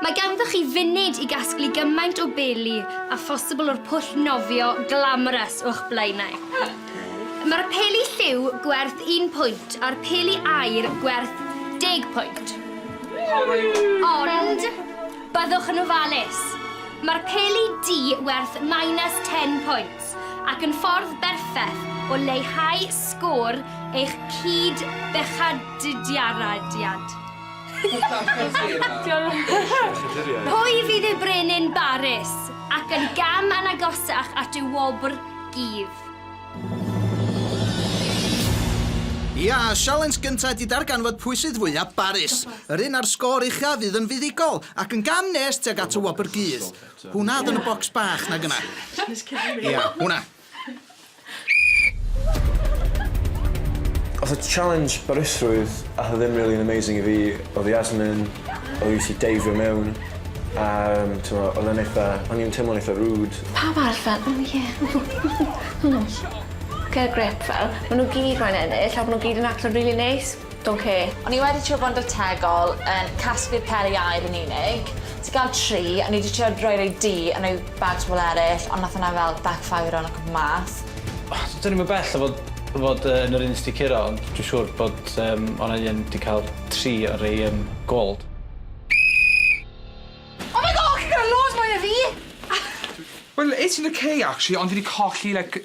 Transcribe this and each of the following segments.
Mae ganddo chi funud i gasglu gymaint o beli a phosibl o'r pwll nofio glamorous o'ch blaenau. Mae'r peli lliw gwerth un pwynt a'r peli aur gwerth deg pwynt. Ond, byddwch yn ofalus. Mae'r peli du werth minus ten points ac yn ffordd berffeth o leihau sgôr eich cyd-bechaduriadiad. Pwy fydd ei brenin barus ac yn gam yn agosach at y wobr gudd? Ia, sialens gynta ydi darganfod pwy sydd fwya barus. Yr un a'r sgôr ucha fydd yn fuddugol, ac yn gam nes tuag at y wobr gudd. Hwna oedd yn y bocs bach na gynna. Ia, hwna. Odd y challenge barusrwydd a odd e ddim rili'n amazing i fi odd Yasmin o fi jyst i deifio mewn a yym t'mo' odd e'n eitha o'n i'n teimlo'n eitha rude. Pawb arall fel o ie hmm hmm. Get a grip fel ma' n'w gyd moyn ennill a bo' n'w gyd yn actio'n rili neis. Ok, o'n i wedi trio bod yn drytegol yn casglu'r peri aur yn unig, ti ga'l tri, o'n i 'di trio roi rei du a roi bags pobl eryll ond nath hwnna fel backfireio yn y cwmpo mas. Dwn i'm yn bell o fod o fod yy yn yr un sy 'di curo ond dwi siŵr bod yym o' 'na un 'di ca'l tri o rei yym gold. Oh my God chi'n gor'o' loads mwy na fi! Wel es i'n oce actually ond fi 'di colli like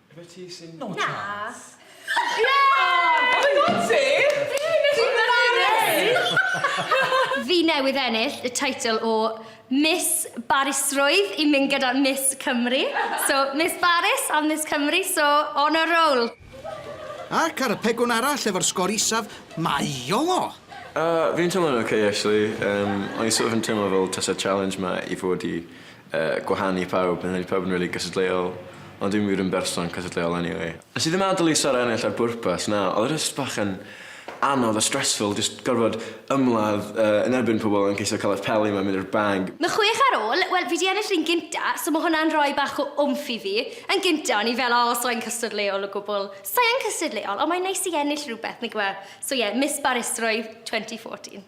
Ife ti sy'n... No chance! Na! Oh my god ti! Fi newydd ennill y teitl o Miss Barusrwydd i mynd gyda Miss Cymru. So Miss Barus a Miss Cymru so on a roll! Ac ar y pegwn arall efo'r sgor isaf mae Iolo! Yy fi'n teimlo'n ok actually yym o'n i sort of yn teimlo fel tase challenge ma i fod i gwahanu pawb, fi'n credu pawb yn rili cystadleuol, ond dwi'm wir yn berson cystadleuol anyway. Nes i ddim adel i Sara ennill ar bwrpas, na, oedd e jyst bach yn anodd a stressful jyst gorfod ymladd yn erbyn pobl yn ceisio cael eich peli mewn mynd i'r bag. Ma chwech ar ôl, wel fi di ennill run gynta so ma hwnna'n rhoi bach o wmff i fi. Yn gynta o'n i fel o sai'n cystadleuol o gwbl. Sai yn cystadleuol ond mae'n neis i ennill rhywbeth nagyw e? So ie, Miss Barusrwydd 2014.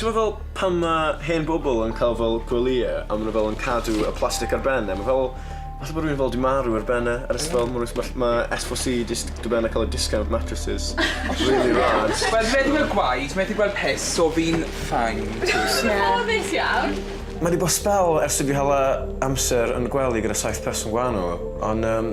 T'mod fel pan ma' hen bobol yn ca'l fel gwelye a ma' nw fel yn cadw y plastic ar ben e ma' fel fatha bo' rywun fel 'di marw ar ben e a jyst fel ma' rywun smash- ma' es fo si jyst do' ben a ca'l y discount mattresses rili rad. Wel fi methu gwel gwaed methu gwel piss so fi'n fine. Ffodus iawn. Ma' 'di bo' sbel ers i fi hala amser yn gwely gyda saith person gwanol on yym